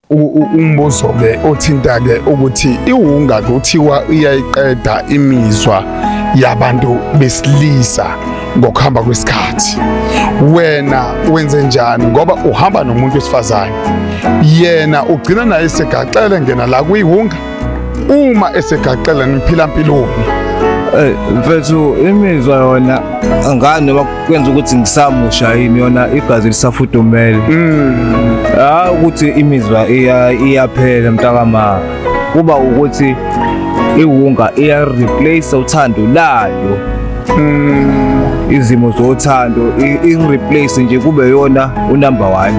umbuzo-ke othinta-ke ukuthi iwunga kuthiwa iyayiqeda imizwa yabantu besilisa ngokuhamba kwesikhathi wena wenze njani ngoba uhamba nomuntu wesifazane yena ugcina naye segaxele ngena la kwiwunga uma esegaqela niphila mpilweni Eh mfethu imizwa yona angani noma kwenza ukuthi ngisamusha yini yona igazi lisafudumele. Mm. Ah ukuthi imizwa iya iyaphela mntakama. Kuba ukuthi iwunga iya replace uthando layo. mm, izimo zothando ingireplace nje kube yona unumber 1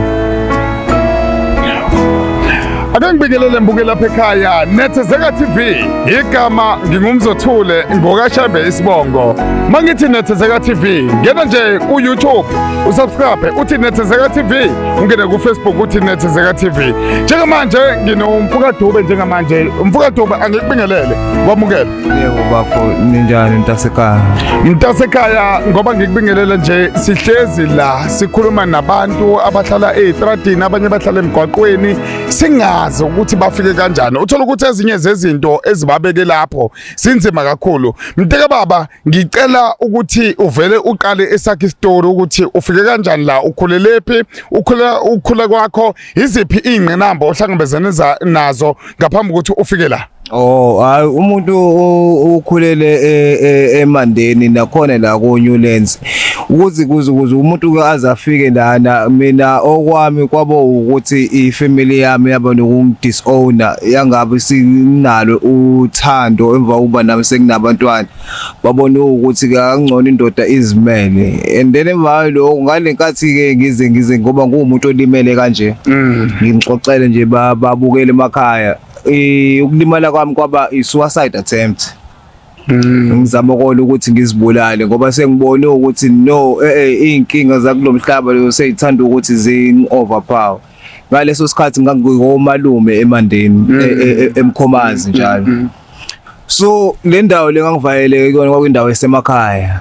Ake ngibingelele mbuke lapha ekhaya Nethezeka TV igama ngingumzothule ngokashembe isibongo mangithi Nethezeka TV ngena nje ku YouTube usubscribe uthi Nethezeka TV ungene ku Facebook uthi Nethezeka TV njengamanje nginomfuka Dube njengamanje umfuka Dube angikubingelele kwamukele Yebo bafo ninjani mntasekhaya? Mntasekhaya ngoba ngikubingelela nje sihlezi la sikhuluma nabantu abahlala ezitradini abanye bahlala emgwaqweni singazi ukuthi bafike kanjani. Uthola ukuthi ezinye zezinto ezibabeke lapho sinzima kakhulu. Mnteke baba ngicela ukuthi uvele uqale esakhe story ukuthi ufike kanjani la ukhulelephi ukhula ukhula kwakho iziphi ingqinamba ohlangabezene nazo ngaphambi ukuthi ufike la. Oh hayi umuntu ukhulele e, e, emandeni nakhona la ku Newlands ukuthi kuze kuze umuntu ke azafike lana mina okwami kwabo ukuthi ifamily yami yaba nokungidisown yangabe sinalo uthando emva kokuba nami senginabantwana babona ukuthi kangcono indoda izimele and then emva lokho ngalenkathi ke ngize ngize ngoba ngumuntu olimele kanje mm. ngimxoxele nje babukele emakhaya Eh, ukulimala kwami kwaba i-suicide attempt mm. ngizama kona ukuthi ngizibulale ngoba sengibone ukuthi no eh, eh inkinga zakulo mhlaba leyo seyithanda ukuthi zing overpower ngaleso sikhathi ngangikomalume emandeni mm. eh, eh, emkhomazi mm, njalo so le ndawo le ngangivayeleke kuyona kwakwindawo esemakhaya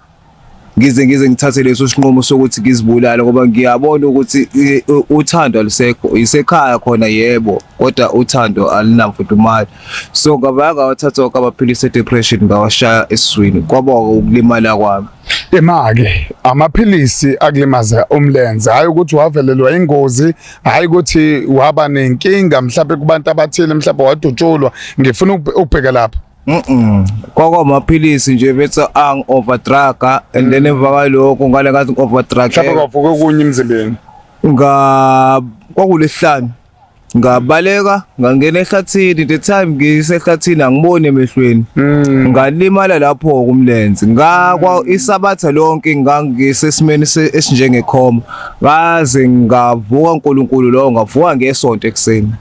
ngize ngize ngithathe leso sinqumo sokuthi ngizibulale ngoba ngiyabona ukuthi eh, uthando alusekho isekhaya khona yebo kodwa uthando alinamfudumali so ngabanga wathatha wonke amaphilisi e-depression ngawashaya esiswini kwaba ukulimala kwami imake amaphilisi akulimaza umlenze hayi ukuthi wavelelwa ingozi hayi ukuthi waba nenkinga mhlawumbe kubantu abathile mhlawumbe wadutshulwa ngifuna ukubheka lapho Mm-mm. Kwakwamaphilisi nje bethi ang overdruga and then emva kwalokho ngale ngathi mhlawumbe overdruga kwavuka okunye emzimbeni nga kwakulesihlanu ngabaleka ngangena ehlathini the time ngisehlathini angiboni emehlweni Mm. ngalimala lapho kumlenze ngakwa isabatha lonke ngangisesimeni se- esinjengekhoma ngaze ngavuka uNkulunkulu lowo ngavuka ngesonto ekuseni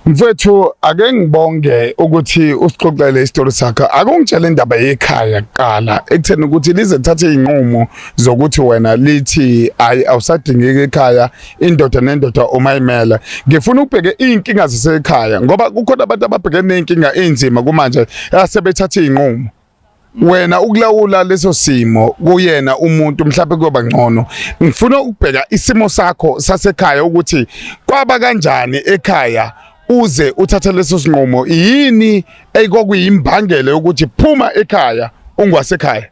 Mfethu ake ngibonge ukuthi usixoxele isitori sakho. Akungitshela indaba yekhaya kuqala ekutheni ukuthi lize thathe izinqumo zokuthi wena lithi ayi awusadingeki ekhaya indoda nendoda uma imela. Ngifuna ubheke izinkinga zasekhaya ngoba kukhona abantu ababhekene nezinkinga ezinzima kumanje asebethatha izinqumo. wena ukulawula leso simo kuyena umuntu mhlawumbe kuyoba ngcono ngifuna ukubheka isimo sakho sasekhaya ukuthi kwaba kanjani ekhaya uze uthathe leso sinqumo yini ekwakuyimbangela yokuthi phuma ekhaya ungwasekhaya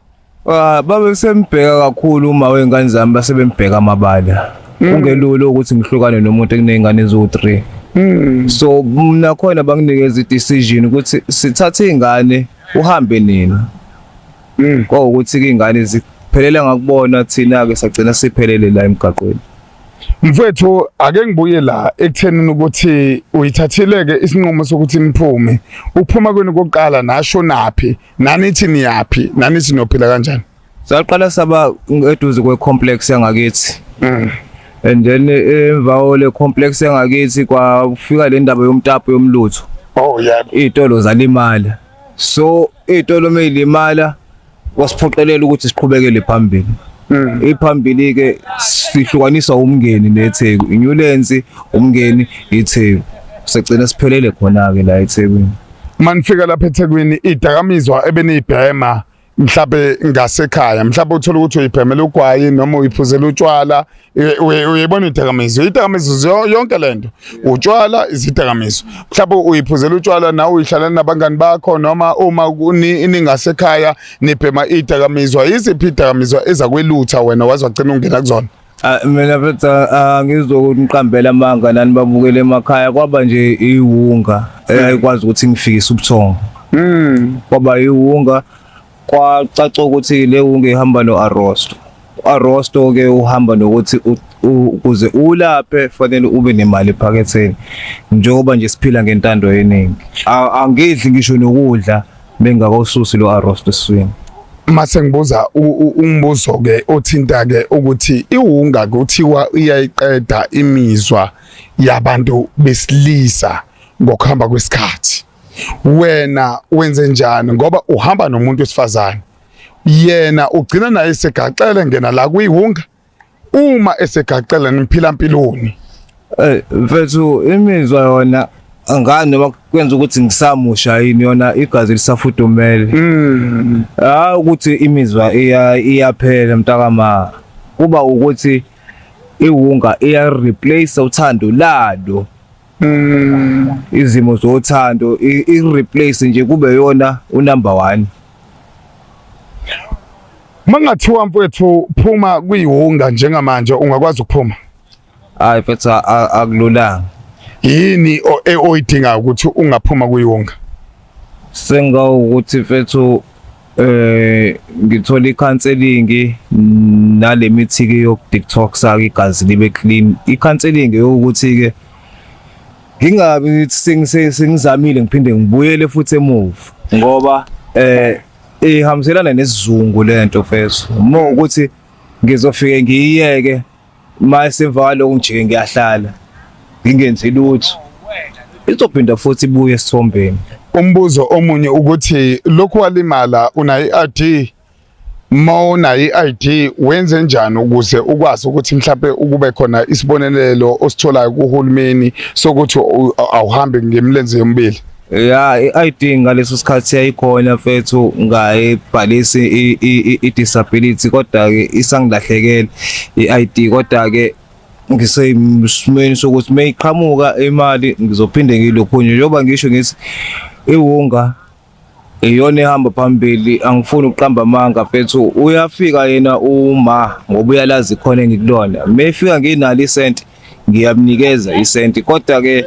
ah, babe sembheka kakhulu uma wengane zami basebembheka amabala mm. kungelula ukuthi ngihlukane nomuntu ekunezingane eziwu-3 mm. so mna khona banginikeza i-decision ukuthi sithathe iy'ngane uhambe nina mm. kwawukuthi ke ingane ziphelele ngakubona thina ke sagcina siphelele la emgaqweni mfethu ake ngibuye la ekuthenini ukuthi uyithathileke isinqumo sokuthi niphume ukuphuma kwenu kokuqala nasho naphi nanithi niyaphi nanithi nophila kanjani Saqala saba eduze kwe complex yangakithi. Mm. And then eh, emva ole complex yangakithi kwafika le ndaba yomtapo yomlutho. Oh yebo. Izitolo zalimala. So izitolo meyilimala wasiphoqelela ukuthi siqhubekele phambili. Mm. Iphambili ke sihlukaniswa umngeni neTheku. Inyulensi umngeni iTheku. Segcina siphelele khona ke la eThekwini. Manifika lapha eThekwini idakamizwa ebenibhema mhlawumbe ngasekhaya mhlawumbe uthole ukuthi uyibhemela ugwayi noma uyiphuzela utshwala uyibona idakamizwa idakamizwa yonke le nto utshwala izidakamizwa mhlawumbe uyiphuzela utshwala nawe uyihlala nabangani bakho noma uma ningasekhaya nibhema idakamizwa yiziphi idakamizwa ezakwelutha wena waze wagcina ungena kuzona Ah, mina mfethu angizokuthi ngiqambela amanga nani babukele emakhaya kwaba nje iwunga eyayikwazi ukuthi ngifikise ubuthongo Mm. kwaba iwunga kwacaca ukuthi le wunga ihamba no-arosto u-arosto ke uhamba nokuthi u- u- ukuze ulaphe kufanele ube nemali ephaketheni njengoba nje siphila ngentando yeningi A- angidli ngisho nokudla Bengingakawususi lo arrost eswini. Mase ngibuza umbuzo ke othinta ke ukuthi iwunga kuthiwa iyayiqeda imizwa yabantu besilisa ngokuhamba kwesikhathi. Wena wenze njani ngoba uhamba nomuntu wesifazane. Yena ugcina naye segaxele ngena la kuyiwunga. uma esegaqela niphila mpiloni eh mfethu imizwa yona angani noma kwenza ukuthi ngisamusha yini yona igazi lisafudumele mm. hayi ukuthi imizwa iyaphela mntakama kuba ukuthi iwunga iya replace uthando lalo Mm. izimo zothando i- i-replace nje kube yona unumber one Mangathiwa mfowethu phuma kuyihunga njengamanje ungakwazi ukuphuma. hayi mfethu a- a- akululanga Yini o- e- oyidingayo ukuthi ungaphuma kuyihunga? sengawukuthi mfethu eh ngithola icounseling nale mithi ke yokudetoxa igazi libe clean icounseling yokuthi ke ngingabi sengizamile ngiphinde ngibuyele futhi emuva ngoba eh ihambiselana nesizungu lento feso uma ukuthi ngizofike ngiyiyeke uma esemva kwaloko ngijike ngiyahlala ngingenzi lutho izophinda futhi ibuye esithombeni umbuzo omunye ukuthi lokhu walimala unayo i-ID uma unayo i-ID wenze njani ukuze ukwazi ukuthi mhlawumbe ukube khona isibonelelo ositholayo kuhulumeni sokuthi awuhambi ngemlenze yomibili ya i-ID ngaleso sikhathi yayikhona mfethu ngayibhalisi i-disability kodwa-ke isangilahlekele i-ID kodwa-ke ngisesimweni sokuthi uma iqhamuka imali ngizophinde ngiyilokhunye njengoba ngisho ngithi iwunga iyona ehamba phambili angifuni ukuqamba amanga mfethu uyafika yena uma ngoba uyalazi khona engikulona uma efika nginalo isenti ngiyamnikeza isenti kodwa ke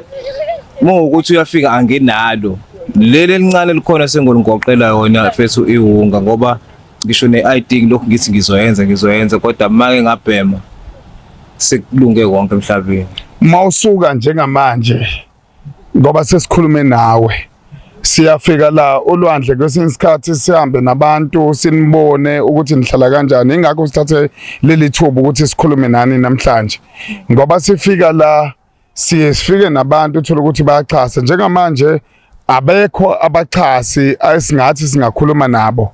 muwukuthi uyafika anginalo leli elincane likhona sengolungoqela yona fethu iwunga ngoba ngisho ne-ID ngilokhu ngithi ngizoyenza ngizoyenza kodwa make ngabhema sekulunge konke emhlabeni uma usuka njengamanje ngoba sesikhulume nawe siyafika la olwandle kwesinye isikhathi sihambe nabantu sinibone ukuthi nihlala kanjani ingakho sithathe leli thuba ukuthi sikhulume nani namhlanje ngoba sifika la siye sifike nabantu uthola ukuthi bayaxhasa njengamanje abekho abaxhasi esingathi singakhuluma nabo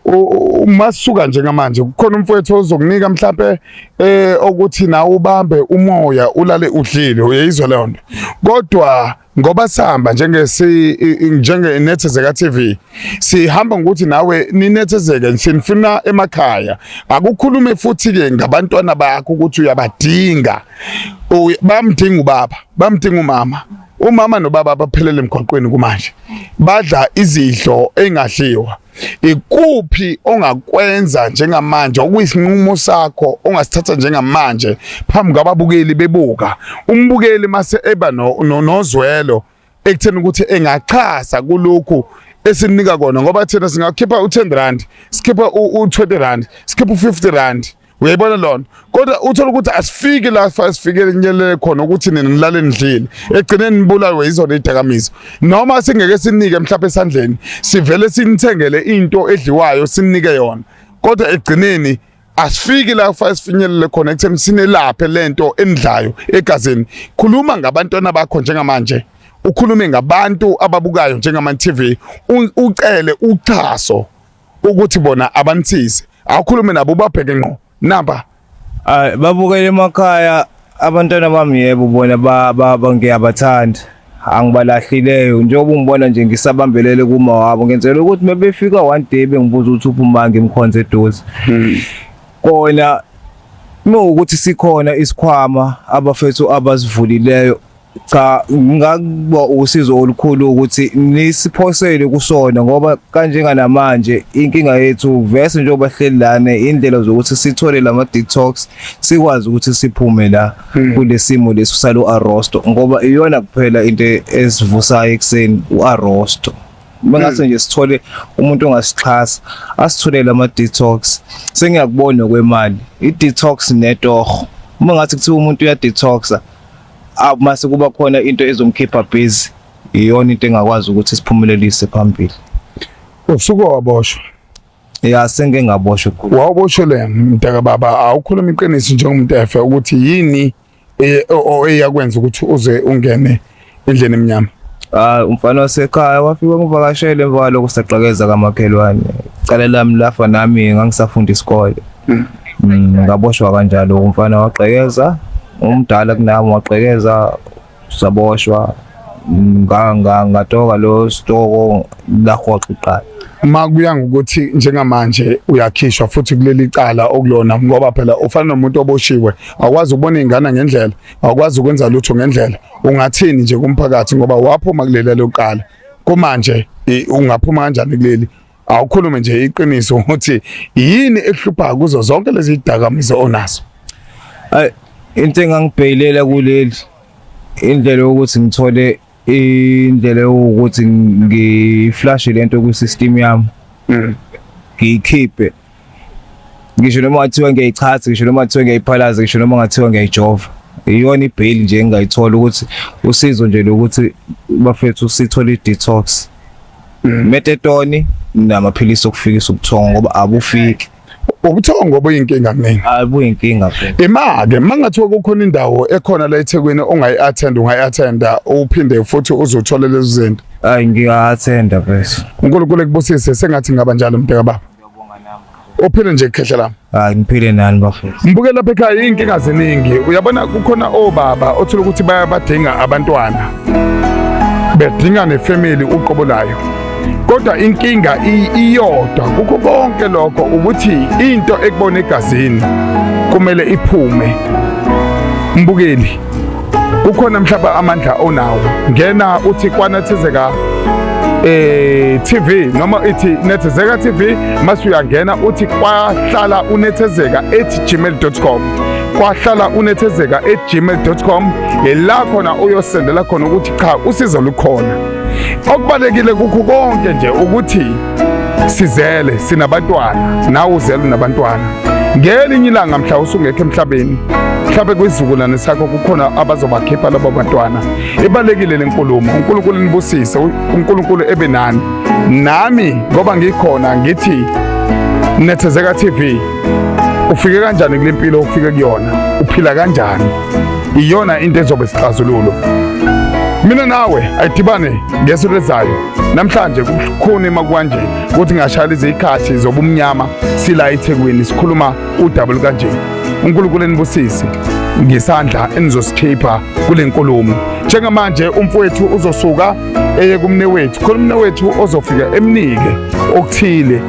uma sisuka njengamanje kukhona umfowethu ozokunika mhlambe eh okuthi na ubambe umoya ulale udlile uyizwa leyo nto kodwa ngoba sihamba njengesi njenge nethezeka TV sihamba ngokuthi nawe ninethezeke sinifuna emakhaya akukhulume futhi ke ngabantwana bakho ukuthi uyabadinga bamdinga ubaba bamdinga umama umama nobaba baphelele emgwaqweni kumanje badla izidlo engadliwa ikuphi ongakwenza njengamanje okuyisinqumo sakho ongasithatha njengamanje phambi kwababukeli bebuka umbukeli mase eba nozwelo ekutheni ukuthi engachaza kulokhu esinika kona ngoba thina singakhipha u-10 rand sikhipha u-20 rand sikhipha u-50 rand uyayibona lona kodwa uthola ukuthi asifiki la sifikele kunyelele khona ukuthi nina nilale nidlile egcineni nibulawe yizona idakamizwa noma singeke sinike mhlawumbe esandleni sivele sinithengele into edliwayo sinike yona kodwa egcineni asifiki la kufanele sifinyelele khona ekutheni sinelaphe lento enidlayo egazini khuluma ngabantwana bakho njengamanje ukhulume ngabantu ababukayo njengama TV ucele uchaso ukuthi bona abanisize awukhulume nabo ubabheke ngqo namba Ay babukele emakhaya abantwana bami yebo bona ba- ba- ba- ngiyabathanda angibalahlileo njengoba ungibona nje ngisabambelele kuma wabo ngenzela ukuthi mebefika one day bengibuza ukuthi uphuma ngimkhonze eduze kona mewukuthi sikhona isikhwama abafethu abasivulileyo Cha ngingakuba usizo olukhulu ukuthi nisiphosele kusona ngoba kanjenganamanje inkinga yethu vese njengoba hleli lana indlela zokuthi sithole lama detox sikwazi ukuthi siphume la hmm. kulesimo lesu salo arrosto ngoba iyona kuphela into esivusayo ekseni uarrosto bengase hmm. nje sithole umuntu ongasixhasa asitholele ama detox sengiyakubona kwemali i detox netoho uma ngathi kuthiwa umuntu uya detoxa awu mase kuba khona into ezomkhipha busy iyona into engakwazi ukuthi siphumelelise phambili usuke waboshwa ya sengike ngaboshwa khulu wawubosheleni mntaka baba awukhuluma iqiniso njengomuntu efe ukuthi yini e, eyakwenza ukuthi uze ungene endleni emnyama hayi umfana wasekhaya wafika ngivakashele emva kwaloko sagqekeza kamakhelwane cala lami lafa nami ngangisafunda isikole Mm, ngaboshwa kanjalo umfana wagqekeza umdala kunami wagqekeza saboshwa mm, ngatoka lo stoko lahoxa iqala uma kuya ngokuthi njengamanje uyakhishwa futhi kuleli cala okulona ngoba phela ufana nomuntu oboshiwe awukwazi ukubona ingane ngendlela awukwazi ukwenza lutho ngendlela ungathini nje kumphakathi ngoba waphuma kuleli lokuqala kumanje ungaphuma kanjani kuleli Awukhulume nje iqiniso ukuthi yini ekuhlupha kuzo zonke lezi zidakamizwa onazo. Ay into engangibheyilela kuleli indlela yokuthi ngithole indlela yokuthi ngiflashe lento kwi system yami. Mm. Ngiyikhiphe. ngisho noma ngathiwa ngiyayichaza ngisho noma ngathiwa ngiyayiphalaza ngisho noma ngathiwa ngiyayijova iyona ibheyili nje engingayithola ukuthi usizo nje lokuthi bafethu sithole i-detox mm. metetoni namaphilisi okufikisa ubuthongo ngoba abufiki ubuthongo obuyinkinga mina abuyinkinga phela imake mangathiwa kukhona indawo ekhona la eThekwini ongayi attend ungayi attend uphinde futhi uzothola lezi zinto hayi ngiya attend bese uNkulunkulu ekubusise sengathi ngaba njalo mbheka baba uphile nje khehla lami hayi ngiphile nani bafethu ngibuke lapha ekhaya inkinga ziningi uyabona kukhona obaba othola ukuthi bayabadinga abantwana bedinga nefamily uqobo layo kodwa inkinga iyodwa kukho konke lokho ukuthi into ekubona egazini kumele iphume mbukeli kukhona mhlawumbe amandla onawo ngena uthi kwanethezeka eh TV noma ithi nethezeka TV mase uyangena uthi kwahlala unethezeka @gmail.com kwahlala unethezeka @gmail.com yela khona uyosendela khona ukuthi cha usizo lukhona okubalekile kukho konke nje ukuthi sizele sinabantwana nawe uzele unabantwana ngelinye ilanga mhla usungekho emhlabeni mhlawumbe kwisizukulwane sakho kukhona abazobakhipha labo bantwana ibalekile le nkulumo unkulunkulu nibusise unkulunkulu ebe nani nami ngoba ngikhona ngithi nethezeka tv ufike kanjani kule mpilo ufike kuyona uphila kanjani iyona into ezobe sixazululo mina nawe ayidibane ngeso lezayo namhlanje kukhona emakwanje ukuthi ngashayela izikhathi zobumnyama sila ethekwini sikhuluma udaba lukanje unkulunkulu enibusise ngesandla enizosikhipha kule nkulumo njengamanje umfowethu uzosuka eye kumne wethu khona umne wethu ozofika emnike okuthile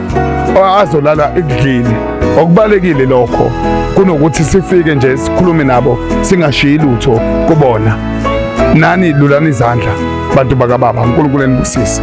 azolala ekudlile okubalekile lokho kunokuthi sifike nje sikhulume nabo singashiyi lutho kubona nani lulani izandla bantu bakababa uNkulunkulu enibusise